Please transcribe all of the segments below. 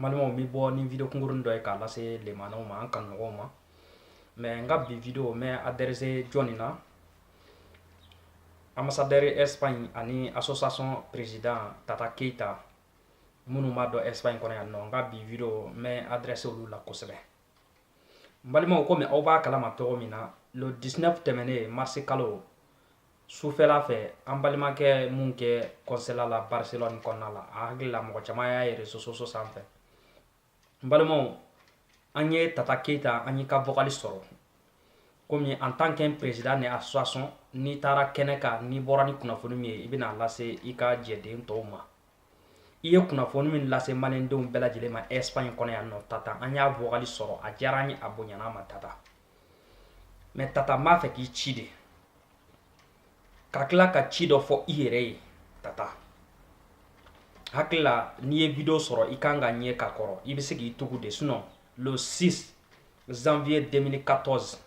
balimaw n bɛ bɔ ni video kunkurunnin dɔ ye k'a lase lamɛnnaw ma an kanumɔgɔw ma mɛ n ka bi video n bɛ adɛrɛse jɔn nin na ambasadɛri espagne ani association président tata keita minnu b'a dɔn espagne kɔnɔ yan nɔ n ka bi video n bɛ adrɛse olu la kosɛbɛ n balimaw komi aw b'a kalama cogo min na le 19 tɛmɛnen marisi kalo sufɛla fɛ an balimakɛ mun kɛ kɔnsila la barcelone kɔnɔna la a hakili la mɔgɔ caman y'a ye réseaux sociaux sanfɛ n balimaw an ye tata keita an y'i ka vogali sɔrɔ komi en tant qu'un président ni association n'i taara kɛnɛ kan n'i bɔra ni kunnafoni min ye i bɛna lase i ka jɛden tɔw ma i ye kunnafoni min lase malidenw bɛɛ lajɛlen ma espagne kɔnɔ yan nɔ tata an y'a vogali sɔrɔ a diyara an ye a bonyana ma tata mɛ tata n b'a fɛ k'i ci de ka tila ka ci dɔ fɔ i yɛrɛ ye tata hakili la n'i ye video sɔrɔ i kan ka n ye ka kɔrɔ i bɛ se k'i tugu de sinon le 6 janvier 2014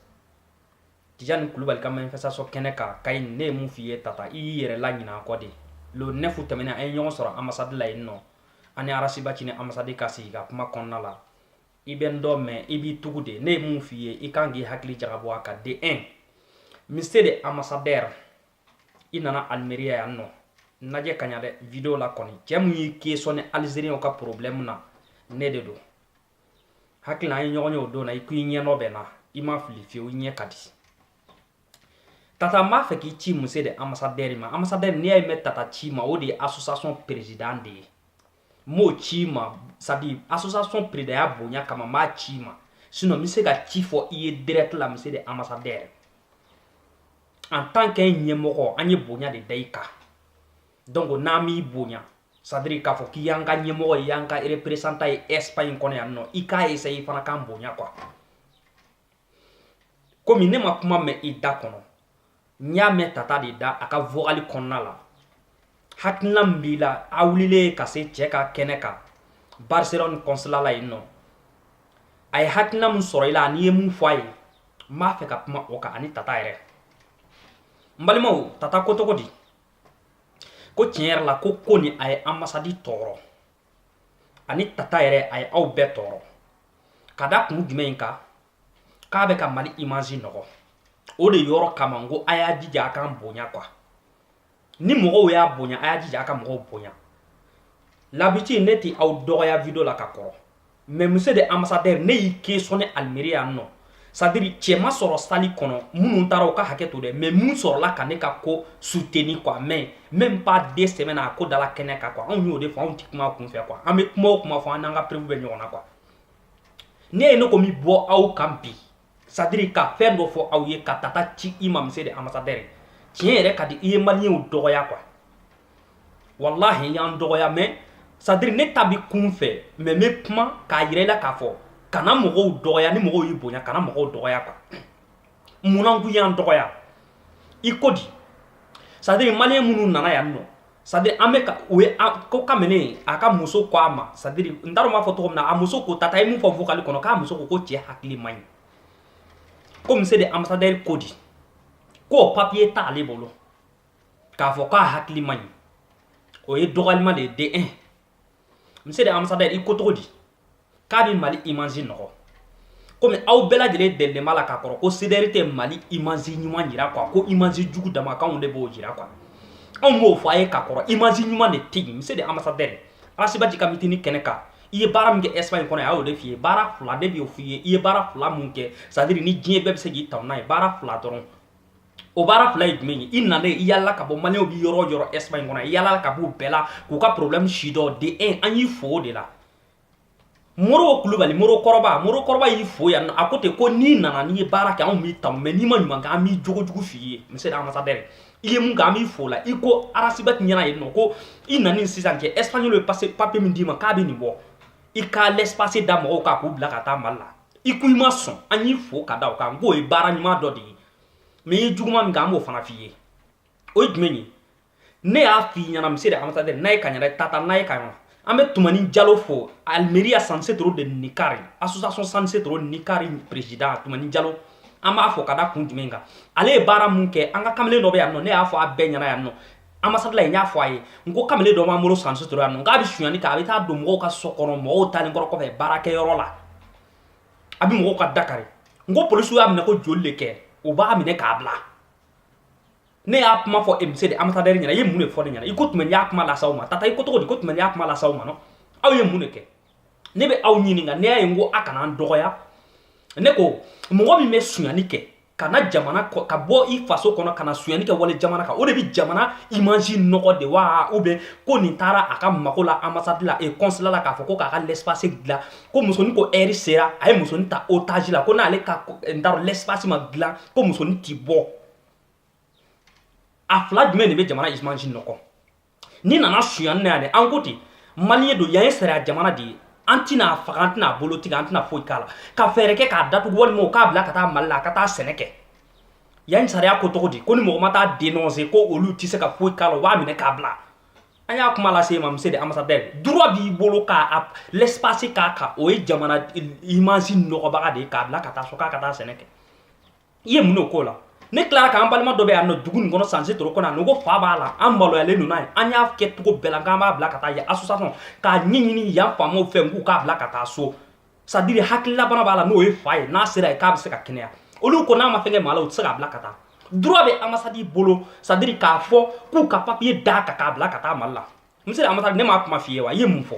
Tijani kulubali ka manifestation kɛnɛ kan ka ɲi ne ye mun f'i ye tata i y'i yɛrɛ la ɲinɛ kɔ de le 9 tɛmɛnen an ye ɲɔgɔn sɔrɔ ambassade la yen nɔ an ni arasiba ci ni ambassade ka sigi ka kuma kɔnɔna la i bɛ n dɔn mɛ i b'i tugu de ne ye mun f'i ye i kan k'i hakili jagabɔ a kan de 1 monsieur le ambassadeur i nana almeriya yan nɔ najɛ kaɲa dɛ video la kɔni cɛ mun y'i kesɔne alzerienw ka problème na ne de don hakili la an ye ɲɔgɔn ye o don na i ko i ɲɛnɔ bɛ n na i ma fili fiyewu i ɲɛ ka di tata n b'a fɛ k'i ci monsieur de ambasadɛri ma ambasadɛri n'i y'a ye n bɛ tata ci i ma o de ye association président de ye n b'o ci i ma sadi association présidaya bonya kama n b'a ci i ma sinon n bɛ se ka ci fɔ i ye direct la monsieur de ambasadɛri en tant que ɲɛmɔgɔ an ye bonya de da i kan donc n'an b'i bonya sadiri k'a fɔ k'i y'an ka ɲɛmɔgɔ ye i y'an ka représentant ye espagne kɔnɔ yan nɔ i k'a essaye fana k'an bonya quoi komi ne ma kuma mɛn i da kɔnɔ n y'a mɛn tata de da a ka vogali kɔnɔna la hakilina min b'i la a wulilen ka se cɛ ka kɛnɛ kan barcelone kɔnsila la yen nɔ a ye hakilina min sɔrɔ i la n'i ye mun fɔ a ye n b'a fɛ ka kuma o kan ani tata yɛrɛ n balimaw tata ko cogo di ko tiɲɛ yɛrɛ la ko ko ni a ye anbasadi tɔɔrɔ ani tata yɛrɛ a ye aw bɛɛ tɔɔrɔ ka da kun jumɛn in kan k'a bɛ ka mali imazi nɔgɔ o de yɔrɔ kama n ko a y'a jija a k'an bonya quoi ni mɔgɔw y'a bonya a y'a jija a ka mɔgɔw bonya l'habitude ne tɛ aw dɔgɔya video la ka kɔrɔ mɛ monsieur de anbasadɛri ne y'i kesiyɔne almeria yan nɔ sadiri cɛ ma sɔrɔ sali kɔnɔ minnu taara u ka hakɛ to dɛ mɛ minnu sɔrɔla ka ne ka ko suteni kuwa mɛ même pas deux semaines a ko dala kɛnɛ kan kuwa anw y'o de fɔ anw tɛ kuma kunfɛ kuwa an bɛ kuma o kuma fɔ an n'an ka preuve bɛ ɲɔgɔn na kuwa ne ye ne ko min bɔ aw kan bi sadiri ka fɛn dɔ fɔ aw ye ka tata ci i ma mise de ambasadɛri tiɲɛ yɛrɛ ka di i ye maliyɛnw dɔgɔya kuwa walahi i y'an dɔgɔya mɛ sadiri ne ta bi kun fɛ mɛ n bɛ kuma k'a yira i la k'a fɔ kana mɔgɔw dɔgɔya ni mɔgɔw y'i bonya kana mɔgɔw dɔgɔya kuwa mun na n ko i y'an dɔgɔya i ko di sadiri maliyɛn minnu nana yan nɔ sadiri an bɛ ka o ye ko kamalen a ka muso ko a ma sadiri n t'a dɔn n b'a fɔ cogo min na a muso ko tata ye mun fɔ vokali kɔnɔ k'a muso ko ko cɛ hakili man ɲi ko mise de ambasadɛri ko di k'o papiye t'ale bolo k'a fɔ k'a hakili man ɲi o ye dɔgɔyalima de ye dɛ mise de ambasadɛri i ko cogo di k'a bɛ mali imazi nɔgɔ komi aw bɛɛ lajɛlen dalen b'a la k'a kɔrɔ ko sedɛri tɛ mali imazi ɲuman jira kuwa ko imazi jugu dama k'anw de b'o jira kuwa anw b'o fɔ a ye k'a kɔrɔ imazi ɲuman de tɛ yen mise de ambasadɛri ras bath ka mitini kɛnɛ kan i ye baara min kɛ espagne kɔnɔ an y'o de f'i ye baara fila ne b'o f'i ye i ye baara fila min kɛ sadiri ni diɲɛ bɛɛ bɛ se k'i tanu n'a ye baara fila dɔrɔn o baara fila ye jumɛn ye i nana i yaala ka bɔ maliyɛnw bi yɔrɔ o yɔrɔ espagne kɔnɔ i yaala ka b'u bɛɛ la k'u ka problème sidɔn de un an y'i fo o de la moro kulubali moro kɔrɔba moro kɔrɔba y'i fo yan a ko ten ko n'i nana n'i ye baara kɛ anw b'i tanu mɛ n'i ma ɲuman kɛ an b'i jogo jugu f'i ye monsieur l'ambassadeur i ye mun kɛ an b'i fo o la i ko ras bath ɲɛna yen nɔ ko i nani sisan cɛ espagnol ye papier min d'i ma k'a bɛ nin bɔ i ka lɛsipase da mɔgɔw kan k'u bila ka taa mali la i ko i ma sɔn an y'i fo ka da o kan k'o ye baara ɲuman dɔ de ye mɛ i ye juguman min kɛ an b'o fana f'i ye o ye jumɛn ye ne y'a f'i ɲɛna mise de ambasadɛr n'a ye kaɲana i tata n'a ye kaɲana an bɛ tumani jalo fo almeria san isidro de nijar association san isidro nijar président tumani jalo an b'a fo ka da kun jumɛn kan ale ye baara mun kɛ an ka kamalen dɔ bɛ yan nɔ ne y'a fɔ aw bɛɛ ɲɛna yan nɔ ambasadi la n y'a fɔ aw ye n ko kamalen dɔ b'an bolo san isidro yan nɔ k'a bɛ sonyani kɛ a bɛ taa don mɔgɔw ka so kɔnɔ mɔgɔw taalen kɔrɔ kɔfɛ baarakɛyɔrɔ la a bɛ mɔgɔw ka da kari n ko polisiw y'a minɛ ko joli de kɛ u b'a minɛ k'a bila ne y'a kuma fɔ e mise de ambasadɛri ɲɛna i ye mun de fɔ ne ɲɛna i ko tuma y'a kuma las'aw ma tata i ko cogo di ko tuma y'a kuma las'aw ma nɔ aw ye mun de kɛ ne bɛ aw ɲininka ne y'a ye n ko a kana n dɔgɔya ne ko mɔgɔ min bɛ sonyani kɛ ka na jamana ka bɔ i faso kɔnɔ ka na sonyani kɛ wali jamana kan o de bɛ jamana imazi nɔgɔ de wa u bɛ ko nin taara a ka mako la anbasadi la ee kɔnsila la k'a fɔ ko k'a ka lɛsipase dilan ko musonin ko ɛri sera a ye musonin ta otazi la ko n'ale ka n t'a dɔn lɛsipasi ma dilan ko musonin tɛ bɔ a fila jumɛn de bɛ jamana imazi nɔgɔ ni nana sonya ne ani an ko ten maliye don yan ye sariya jamana de ye an tɛn'a faga an tɛn'a bolo tigɛ an tɛna foyi k'a la ka fɛɛrɛ kɛ k'a datugu walima o k'a bila ka taa mali la a ka taa sɛnɛ kɛ yan sariya ko cogo di ko ni mɔgɔ ma taa denonse ko olu tɛ se ka foyi k'a la u b'a minɛ k'a bila an y'a kuma lase ma monsieur de ambassadeur droit b'i bolo ka laissez-passer k'a kan o ye jamana image nɔgɔbaga de ye k'a bila ka taa so k'a ka taa sɛnɛ kɛ i ye mun de k'o la ne tilara k'an balima dɔ bɛ yan nɔ dugu nin kɔnɔ sansi toro kɔnɔ ani ko fa b'a la an maloyalen don n'a ye an y'a kɛ cogo bɛɛ la k'an b'a bila ka taa yan association k'a ɲɛɲini yan faamaw fɛ n k'u k'a bila ka taa so c'est à dire hakililabana b'a la n'o ye fa ye n'a sera yen k'a bɛ se ka kɛnɛya olu ko n'a ma fɛn kɛ maa la u tɛ se k'a bila ka taa droit bɛ ambassade bolo c'est à dire k'a fɔ k'u ka papiye d'a kan k'a bila ka taa mali la monsieur l'ambassadeur ne m'a kuma f'i ye wa i ye mun fɔ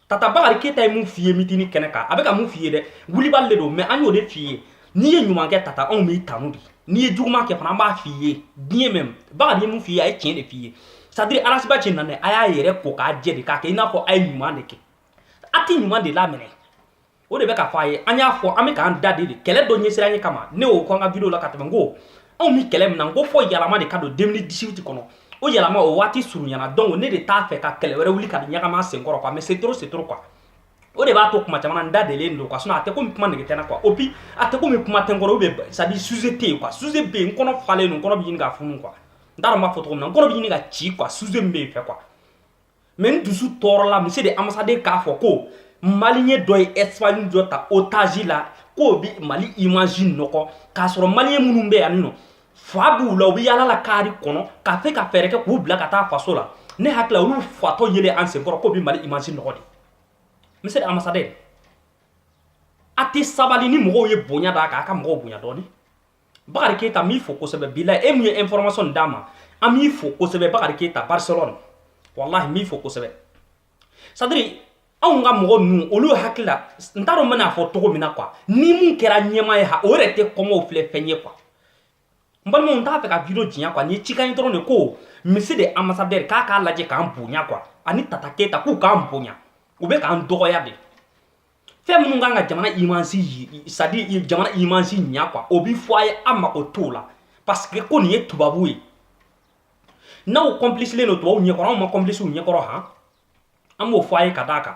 tata bakari keyita ye mun f'i ye mitini kɛnɛ kan a bɛ ka mun f'i ye dɛ wulibali de don mɛ an y'o de f'i ye n'i ye ɲuman kɛ tata anw b'i tanu de n'i ye juguman kɛ fana an b'a f'i ye diɲɛ mais bakari ye mun f'i ye a ye tiɲɛ de f'i ye c'est à dire ras bath nanen a y'a yɛrɛ ko k'a jɛ de k'a kɛ i n'a fɔ a ye ɲuman de kɛ a tɛ ɲuman de laminɛ o de bɛ ka fɔ a ye an y'a fɔ an bɛ k'an da de de kɛlɛ dɔ ɲɛsira ye kama ne y'o kɛ n ka video la ka tɛmɛ ko anw bɛ kɛlɛ min na ko fo yɛlɛma de ka don 2018 kɔnɔ o yɛlɛma o waati surunyana donc ne de t'a fɛ ka kɛlɛ wɛrɛ wuli ka ɲagami a senkɔrɔ quoi mais c'est trop c'est trop quoi o de b'a to kuma caman n da delen don quoi sinon a tɛ komi kuma nege tɛ n na quoi et puis a tɛ komi kuma tɛ n kɔrɔ ou bien c'est à dire sujet tɛ yen quoi sujet bɛ yen n kɔnɔ falen don n kɔnɔ bɛ ɲini ka funu quoi n t'a dɔn n b'a fɔ cogo min na n kɔnɔ bɛ ɲini ka ci quoi sujet min bɛ yen fɛ quoi mais n dusu tɔɔrɔla monsieur de ambassadeur k'a fɔ ko maliye dɔ ye espagne dɔ ta otage la k'o bi mali image nɔgɔ k'a sɔrɔ maliye minnu bɛ yan nɔ fa b'u la u bɛ yala la kare kɔnɔ ka fɛ ka fɛɛrɛ kɛ k'u bila ka taa faso la ne hakilila olu fatɔ yele an senkɔrɔ k'o bi mali image nɔgɔ de monsieur de ambassadeur a tɛ sabali ni mɔgɔw ye bonya d'a kan a ka mɔgɔw bonya dɔɔni bakari keyita m'i fo kosɛbɛ bilahi e mun ye information d'an ma an m'i fo kosɛbɛ bakari keyita barcelone wallahi m'i fo kosɛbɛ c'est à dire anw ka mɔgɔ ninnu olu hakili la n t'a dɔn n bɛn'a fɔ cogo min na quoi ni mun kɛra ɲɛma ye ha o yɛrɛ tɛ kɔngɔw filɛ fɛn ye quoi n balimaw n t'a fɛ ka video janya quoi ni cikan ye dɔrɔn de ko monsieur de ambassadeur k'a k'a lajɛ k'an bonya quoi ani tata keyita k'u k'an bonya u bɛ k'an dɔgɔya de fɛn minnu kan ka jamana image c'est à dire jamana image ɲa quoi o bi fɔ a ye an mako t'o la parce que ko nin ye tubabu ye n'aw kɔnpilisilen don tubabu ɲɛkɔrɔ anw ma kɔnpilisi u ɲɛkɔrɔ han an b'o fɔ a ye ka d'a kan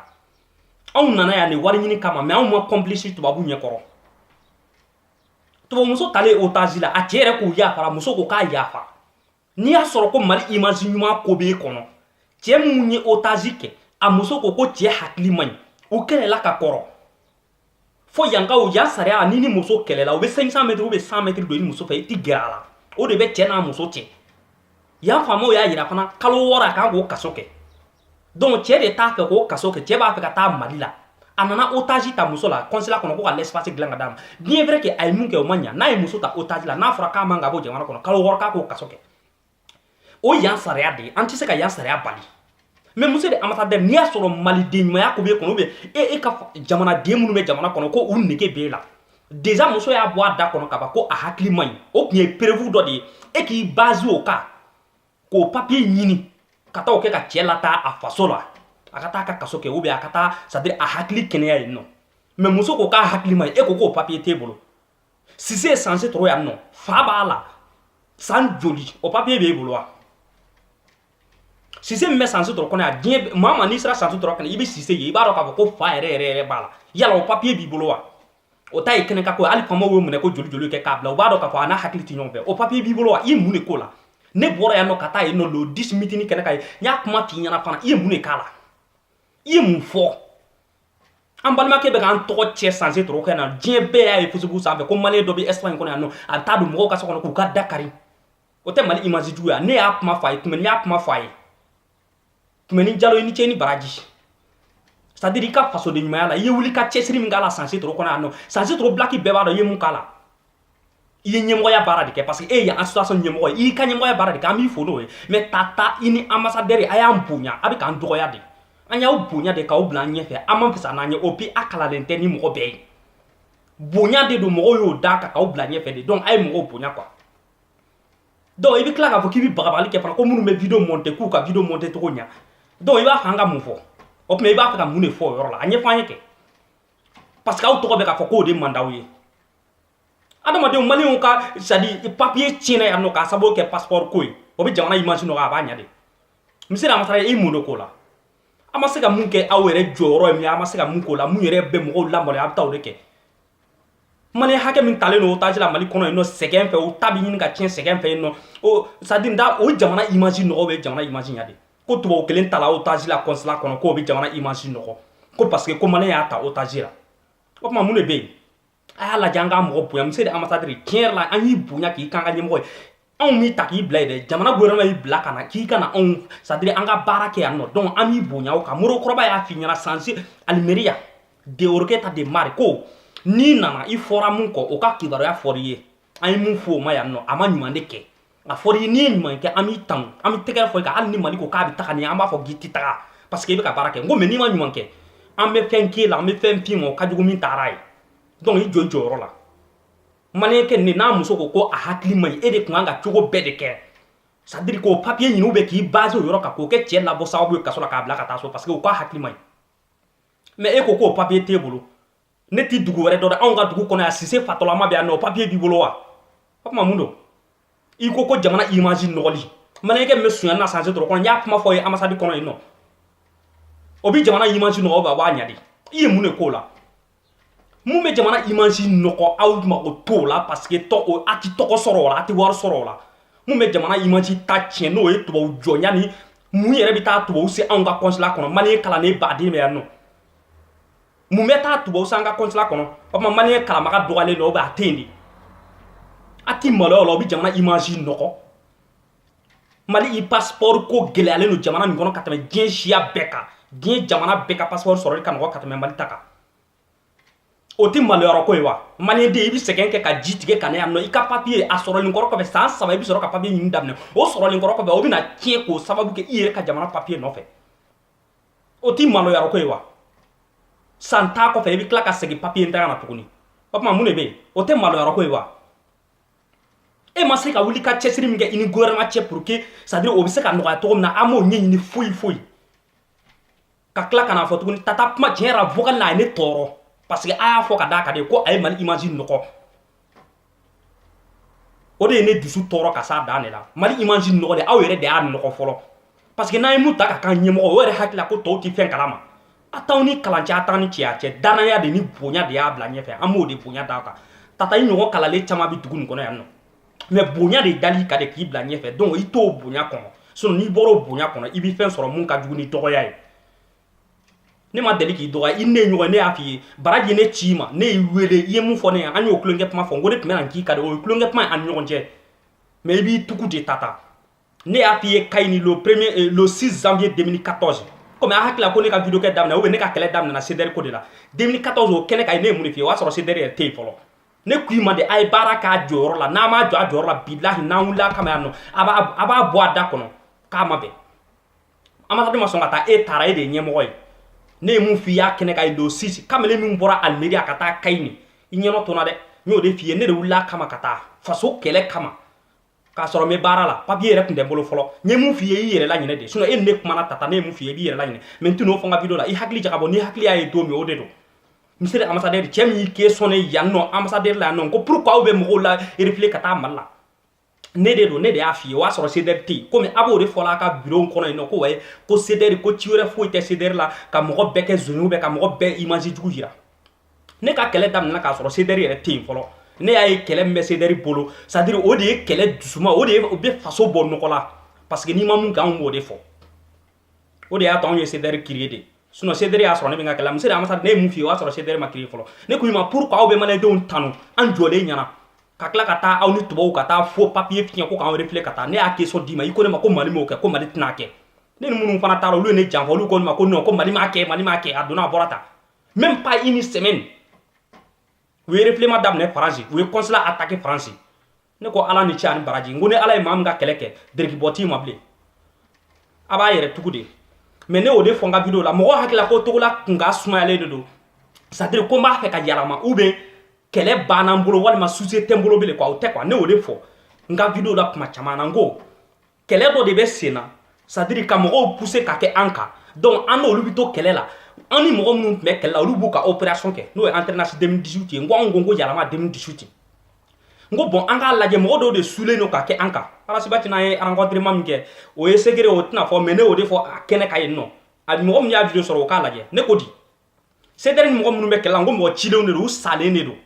anw nana yan nin wari ɲini kama mais anw ma kɔnpilisi tubabu ɲɛkɔrɔ tubabumuso talen otage la a cɛ yɛrɛ k'o yafara muso ko k'a yafa n'i y'a sɔrɔ ko mali image ɲuman ko b'e kɔnɔ cɛ minnu ye otazi kɛ a muso ko ko cɛ hakili man ɲi u kɛlɛla ka kɔrɔ fo yankaw ya sariya n'i n'i muso kɛlɛla u bɛ 500 mètres u bɛ 100 mètres don i muso fɛ i tɛ gɛrɛ a la o de bɛ cɛ n'a muso cɛ yan faamaw y'a jira fana kalo wɔɔrɔ a ka kan k'o kaso kɛ donc cɛ de t'a fɛ k'o kaso kɛ cɛ b'a fɛ ka taa mali la a nana otage ta muso la kɔnsila kɔnɔ ko ka laissez-passer dilan ka d'a ma bien vrai que a ye mun kɛ o ma ɲa n'a ye muso ta otage la n'a fɔra k'a man ka bɔ jamana kɔnɔ kalo wɔɔrɔ k'a k'o kaso kɛ o yan sariya de ye an tɛ se ka yan sariya bali mɛ muso de ambassadeur n'i y'a sɔrɔ maliden ɲumanya ko b'e kɔnɔ ubiyɛn e e ka jamanaden minnu bɛ jamana kɔnɔ ko u nege b'e la deja muso y'a bɔ a da kɔnɔ ka ban ko a hakili man ɲi o tun ye perevu dɔ de ye e k'i bazi o kan k'o papiye ɲini ka taa o kɛ ka cɛ lataa a faso la a ka taa a ka kaso kɛ ubiyɛn a ka taa c'est à dire a hakili kɛnɛya yen nɔ mɛ muso ko k'a hakili man ɲi e ko k'o papiye t'e bolo sise ye san isidro yan nɔ fa b'a la san joli o papiye b'e bolo wa sise min bɛ san isidro kɔnɔ yan diɲɛ maa o maa n'i sera san isidro kɔnɔ i bɛ sise ye i b'a dɔn k'a fɔ ko fa yɛrɛ yɛrɛ yɛrɛ b'a la yala o papiye b'i bolo wa o ta ye kɛnɛ kan ko hali kɔmɔ wo minɛ ko joli joli kɛ k'a bila u b'a dɔn k'a fɔ a n'a hakili tɛ ɲɔgɔn fɛ o papiye b'i bolo wa i ye mun de k'o la ne bɔra yan nɔ ka taa yen nɔ lo disi mitini kɛnɛ kan yen n y'a kuma f'i ɲɛna fana i ye mun de k'a la i ye mun fɔ an balimakɛ bɛ k'an tɔgɔ cɛn san isidro kɛ na diɲɛ bɛɛ y'a ye facebook sanfɛ ko maliyɛn dɔ bɛ ɛsipaɲi kɔnɔ yan nɔ a bɛ taa don mɔgɔw ka so kɔnɔ k'u ka da kari o tɛ mali image juguya ne y'a kuma fɔ a ye tumani y'a kuma fɔ a ye tumani jalo i ni ce ni baraji c'est à dire i ka fasoden ɲumanya la i ye wuli ka cɛsiri min k'a la san isidro kɔnɔ yan nɔ san isidro blaki bɛɛ b'a dɔn i ye mun k'a la i ye ɲɛmɔgɔya baara de kɛ parce que e ye association ɲɛmɔgɔ ye i ka ɲɛmɔgɔya baara de kɛ an b'i fo n'o ye mais ta ta i ni ambassadeur a y'an bonya a bɛ k'an dɔgɔya de an y'aw bonya de k'aw bila an ɲɛfɛ aw man fisa n'an ye ubiyɛn a kalannen tɛ ni mɔgɔ bɛɛ ye bonya de don mɔgɔw y'o d'a kan k'aw bila ɲɛfɛ de donc a ye mɔgɔw bonya quoi dɔnku i bɛ tila k'a fɔ k'i bɛ bagabagali kɛ fana ko minnu bɛ video monte k'u ka video monte cogo ɲa dɔnku i b'a fɛ an ka mun fɔ o tuma i b'a fɛ ka mun de fɔ o yɔrɔ la a ɲɛfɔ an ye kɛ parce que aw tɔgɔ bɛ ka fɔ k'o de man d'aw ye adamadenw maliyɛnw ka sadi papiye tiɲɛna yan nɔ k'a sababu kɛ pasipɔri ko ye o bɛ jamana image nɔgɔ a b'a ɲa de monsieur ambassadeur i ye mun de k'o la an ma se ka mun kɛ aw yɛrɛ jɔyɔrɔ ye min ye an ma se ka mun k'o la mun yɛrɛ bɛ mɔgɔw lamaloya a bɛ taa o de kɛ mali hakɛ min talen don otazi la mali kɔnɔ yen nɔ sɛgɛn fɛ o ta bɛ ɲini ka tiɲɛ sɛgɛn fɛ yen nɔ o sadi n da o jamana image nɔgɔ bɛ jamana image ɲa de ko tubabu kelen tala otazi la kɔnsila kɔnɔ k'o bɛ jamana image nɔgɔ ko parce que ko mali y'a ta otazi la o tuma mun de bɛ yen a y'a lajɛ an ka mɔgɔ bonya monsieur ambassadeur tiɲɛ yɛrɛ la an y'i bonya k'i k'an ka ɲɛmɔgɔ ye anw m'i ta k'i bila yen dɛ jamana gouvernement y'i bila ka na k'i ka na anw c'est à dire an ka baara kɛ yan nɔ donc an b'i bonya o kan mɔgɔ kɔrɔba y'a f'i ɲɛna sansi almeria de roquetas de mar ko n'i nana i fɔra mun kɔ o ka kibaruya fɔr'i ye an ye mun fɔ o ma yan nɔ a ma ɲuman de kɛ a fɔr'i ye n'i ye ɲuman kɛ an b'i tanu an bɛ tɛgɛrɛ fɔ i kan hali ni mali ko k'a bɛ taga ni an b'a fɔ k'i tɛ taga parce que i bɛ ka baara kɛ n ko mais n'i ma ɲuman kɛ an bɛ fɛn k'e la an bɛ fɛn f'i ma o ka jugu min taara ye donc i jɔ i jɔyɔrɔ la malikɛ nin n'a muso ko ko a hakili man ɲi e de tun kan ka cogo bɛɛ de kɛ c'est à dire k'o papiye ɲini u bɛ k'i base o yɔrɔ kan k'o kɛ cɛ labɔ sababu ye ka sɔrɔ k'a bila ka taa so parce que u k'a hakili man ɲi mais e ko k'o papiye t'e bolo ne ti dugu wɛrɛ dɔn dɛ anw ka dugu kɔnɔ yan sise fatɔlama bɛ yan nɔ papiye b'i bolo wa o tuma mun don i ko ko jamana image nɔgɔli malikɛ min bɛ sunya na san isidro kɔnɔ n y'a kuma fɔ ye ambassade kɔnɔ yen nɔ o bɛ jamana image nɔgɔ b'a b'a ɲadi i ye mun de k'o la mun bɛ jamana image nɔgɔ aw mago t'o la parce que tɔ o a ti tɔgɔ sɔrɔ o la a ti wari sɔrɔ o la mun bɛ jamana image ta tiɲɛ n'o ye tubabu jɔnya ni mun yɛrɛ bɛ taa tubabu se anw ka kɔnsila kɔnɔ maliyɛn kalannen baden bɛ yan nɔ mun bɛ taa tubabu se an ka kɔnsila kɔnɔ o tuma maliyɛn kalanbaga dɔgɔyalen don a tɛ yen de a ti maloya o la o bɛ jamana image nɔgɔ mali i pasipɔri ko gɛlɛyalen don jamana min kɔnɔ ka tɛmɛ diɲɛ siya bɛɛ kan diɲɛ jamana bɛɛ ka pasipɔri sɔrɔli ka nɔgɔ ka tɛmɛ mali ta kan o tɛ maloyɔrɔ ko ye wa maliyɛnden i bɛ sɛgɛn kɛ ka ji tigɛ ka na yan nɔ i ka papiye a sɔrɔlen kɔrɔ kɔfɛ san saba i bɛ sɔrɔ ka papiye ɲini daminɛ o sɔrɔlen kɔrɔ kɔfɛ o bɛna tiɲɛ k'o sababu kɛ i yɛrɛ ka jamana papiye nɔfɛ o tɛ maloyɔrɔ ko ye wa san tan kɔfɛ i bɛ tila ka segin papiye ntanya na tuguni o tuma mun de bɛ yen o tɛ maloyɔrɔ ko ye wa e ma se ka wuli ka cɛsiri min kɛ i ni gouvernement cɛ pour que c'est à dire o bɛ se ka nɔgɔya cogo min na a m'o ɲɛɲini foyi foyi ka tila ka n'a fɔ tuguni tata kuma tiɲɛ yɛrɛ vocal la a ye ne tɔɔrɔ parce que a y'a fɔ ka d'a kan de ko a ye mali image nɔgɔ o de ye ne dusu tɔɔrɔ ka s'a dan de la mali image nɔgɔli aw yɛrɛ de y'a nɔgɔ fɔlɔ parce que n'a ye mun ta k'a k'an ɲɛmɔgɔ o yɛrɛ hakili la ko tɔw tɛ fɛn kalama a t'an ni kalan cɛ a t'an ni cɛya cɛ dannaya de ni bonya de y'a bila ɲɛfɛ an b'o de bonya d'a kan tata i ɲɔgɔn kalannen caman bɛ dugu nin kɔnɔ yan nɔ mais bonya de dal'i kan de k'i bila ɲɛfɛ donc i t'o bonya kɔnɔ sinon n'i bɔra o bonya kɔnɔ i bɛ fɛn sɔrɔ mun ka jugu ni dɔgɔya ye ne ma deli k'i dɔgɔya i ne ɲɔgɔn ne y'a f'i ye baraji ne c'i ma ne y'i wele i ye mun fɔ ne ye an y'o tulonkɛ kuma fɔ n ko ne tun bɛ na n k'i kan de o ye tulonkɛ kuma ye an ni ɲɔgɔn cɛ mais i b'i tugu de tata ne y'a f'i ye kayini le premier euh, le 6 janvier 2014 komi a hakili la ko ne ka video kɛ daminɛ ou ne ka kɛlɛ daminɛna CDR ko de la 2014 o kɛnɛ kan yen ne ye mun de f'i ye o y'a sɔrɔ CDR yɛrɛ tɛ yen fɔlɔ ne k'i ma de a ye baara k'a jɔyɔrɔ la n'a m'a jɔ a jɔyɔrɔ la bilahi n'an wulil'a kama yan nɔ a b'a a b'a bɔ a da kɔnɔ k'a ma bɛn ambassadeur ma sɔn ka taa e taara e de ye ɲɛmɔgɔ ye ne ye mun f'i y'a kɛnɛ kan yen le 6 kamalen min bɔra almeria ka taa kayini i ɲɛnɔ tɔnna dɛ n y'o de f'i ye ne de wulila kama ka taa faso kɛlɛ kama k'a sɔrɔ n bɛ baara la papiye yɛrɛ tun tɛ n bolo fɔlɔ n ye mun f'i ye i yɛrɛ laɲinɛ de sinɔn e ni ne kumana tata ne ye mun f'i ye i b'i yɛrɛ laɲinɛ mɛ n tɛn'o fɔ n ka video la i hakili jagabɔ n'i hakili y'a ye don min o de don monsieur ambassadeur cɛ min y'i kesɔne yan nɔ ambassade la yan nɔ ko pourquoi aw bɛ mɔgɔw larefule ka taa mali la ne de don ne de y'a f'i ye o y'a sɔrɔ sedɛri tɛ yen komi a b'o de fɔla a ka biro kɔnɔ yen nɔ ko waye ko sedɛri ko ci wɛrɛ foyi tɛ sedɛri la ka mɔgɔ bɛɛ kɛ zon ye u bɛ ka mɔgɔ bɛɛ imazi jugu jira ne ka kɛlɛ daminɛna k'a sɔrɔ sedɛri yɛrɛ tɛ yen fɔlɔ ne y'a ye kɛlɛ min bɛ sedɛri bolo sadiri o de ye kɛlɛ dusuma o de o bɛ faso bɔ nɔgɔ la parce que n'i ma mun kɛ anw b'o de fɔ o de y'a to anw ye sedɛri kiriye de sinɔn sedɛri y'a sɔrɔ ne bɛ ka kɛlɛ monsieur ambassadeur ne ye mun f'i ye o y'a sɔrɔ sedɛri ma kiriye fɔlɔ ne ko i ma pourquoi aw bɛ malidenw tanu an jɔlen ɲɛna ka tila ka taa aw ni tubabuw ka taa faux papiye siɲɛ ko k'an refule ka taa ne y'a kesɔn d'i ma i ko ne ma ko mali m'o kɛ ko mali tɛna kɛ ne ni minnu fana taara olu ye ne janfa olu ko ne ma ko non ko mali m'a kɛ mali m'a kɛ a donna a bɔra ta même pas une semaine u ye refoulement daminɛ faransi u ye consulat attaqué faransi ne ko ala ni ce ani baraji n ko ni ala ye maa min ka kɛlɛ kɛ deriki bɔ t'i ma bilen a b'a yɛrɛ tugu de mɛ ne y'o de fɔ n ka video la mɔgɔ hakili la ko togola kun sumayalen de don sadiri ko n b'a fɛ ka yɛlɛma ou bien kɛlɛ banna n bolo walima sujet tɛ n bolo bilen kuwa o tɛ kuwa ne y'o de fɔ n ka video la kuma caman na n ko kɛlɛ dɔ de bɛ sen na sadiri ka mɔgɔw puse ka kɛ an kan donc an n'olu bɛ to kɛlɛ la an ni mɔgɔ minnu tun bɛ kɛlɛ la olu b'u ka opération kɛ n'o ye alternance 2018 ye n ko anw ko n ko yɛlɛma 2018 n ko bɔn an k'a lajɛ mɔgɔ dɔw de sulen don ka kɛ an kan arasibati n'an ye rencontrement min kɛ o ye sekere o tɛna fɔ mais ne y'o de fɔ a kɛnɛ kan yen nɔ a mɔgɔ min y'a video sɔrɔ o k'a lajɛ ne ko di sedɛri ni mɔgɔ minnu bɛ kɛlɛ ko mɔgɔ cilenw de don u saralen de don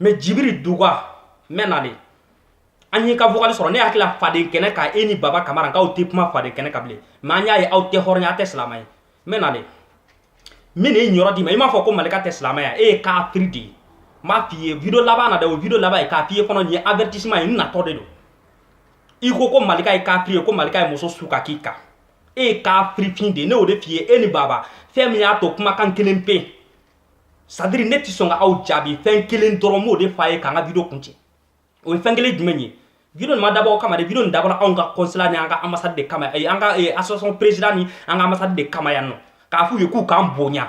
mɛ jibiri duga mɛ nale an y'i ka vokali sɔrɔ ne hakili la faden kɛnɛ kan e ni baba kamara k'aw tɛ kuma faden kɛnɛ kan bilen mɛ an y'a ye aw tɛ hɔrɔn ye aw tɛ silama ye mɛ nale min de ye ɲɔrɔ d'i ma i m'a fɔ ko malika tɛ silama ye e ye kafiri de ye n b'a f'i ye video laban na dɛ o video laban ye k'a f'i ye fana nin ye avertissement ye n natɔ de don i ko ko malika ye kafiri ye ko malika ye muso su ka k'i kan e ye kafiri fin de ye ne y'o de f'i ye e ni baba fɛn min y'a to kumakan kelen pe sadiri ne tɛ sɔn ka aw jaabi fɛn kelen dɔrɔn n b'o de f'aw ye k'an ka video kuncɛ o ye fɛn kelen jumɛn ye video nin ma dabɔ aw kama dɛ video nin dabɔra anw ka consulat ni an ka ambassade de kama eh, an ka eh, association président ni an ka ambassade de kama yan nɔ k'a f'u ye k'u k'an bonya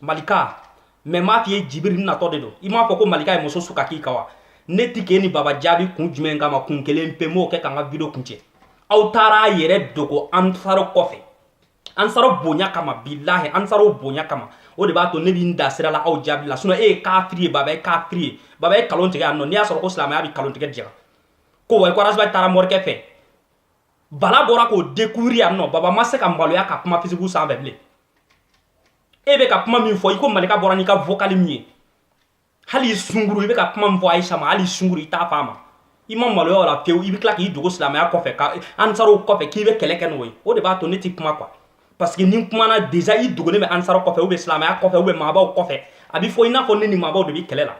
malika mɛ n b'a f'i ye jibiri n natɔ de don i m'a fɔ ko malika ye muso su ka k'i kan wa ne ti k'e ni baba jaabi kun jumɛn kama kun kelen pe n b'o kɛ k'an ka video kuncɛ aw taara aw yɛrɛ dogo ansaro kɔfɛ ansaro bonya kama bilahi ansaro bonya kama o de b'a to ne bɛ n da sira la aw jaabi la sinɔn e ye kafiri ye baba ye kafiri ye baba ye kalon tigɛ yan nɔ n'i y'a sɔrɔ ko silamɛya bi kalon tigɛ jɛra ko wa ko arasiba taara mɔrikɛ fɛ bala bɔra k'o découvrir yan nɔ baba ma se ka maloya ka kuma fisigiw sanfɛ bilen e bɛ ka kuma min fɔ i ko malika bɔra n'i ka vocali min ye hali i sungurun i bɛ ka kuma min fɔ ayisa ma hali i sungurun i t'a fɔ a ma i ma maloya o la pewu i bɛ tila k'i dogo silamɛya kɔfɛ ka ansaro kɔfɛ k'i bɛ kɛlɛ kɛ n'o ye o de b'a to ne tɛ kuma quoi parce que ni n kumana déjà i dogolen bɛ ansaro kɔfɛ ou bien silamɛya kɔfɛ ou bien maabaw kɔfɛ a bɛ fɔ i n'a fɔ ne ni maabaw de bɛ kɛlɛ la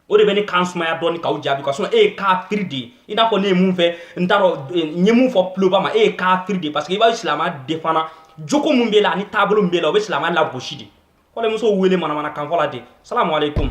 o de bɛ ne kan sumaya dɔɔni k'aw jaabi ka sɔrɔ e ye kafiri de ye i n'a fɔ ne ye min fɛ n t'a dɔn eh, n ye min fɔ tuloba ma e ye kafiri de ye parce que i b'a ye silamɛya défendre jogo min b'e la ani taabolo min b'e la o bɛ silamɛya lagosi de kɔrɔmusow wele manamana kanfɔla de salamu aleykum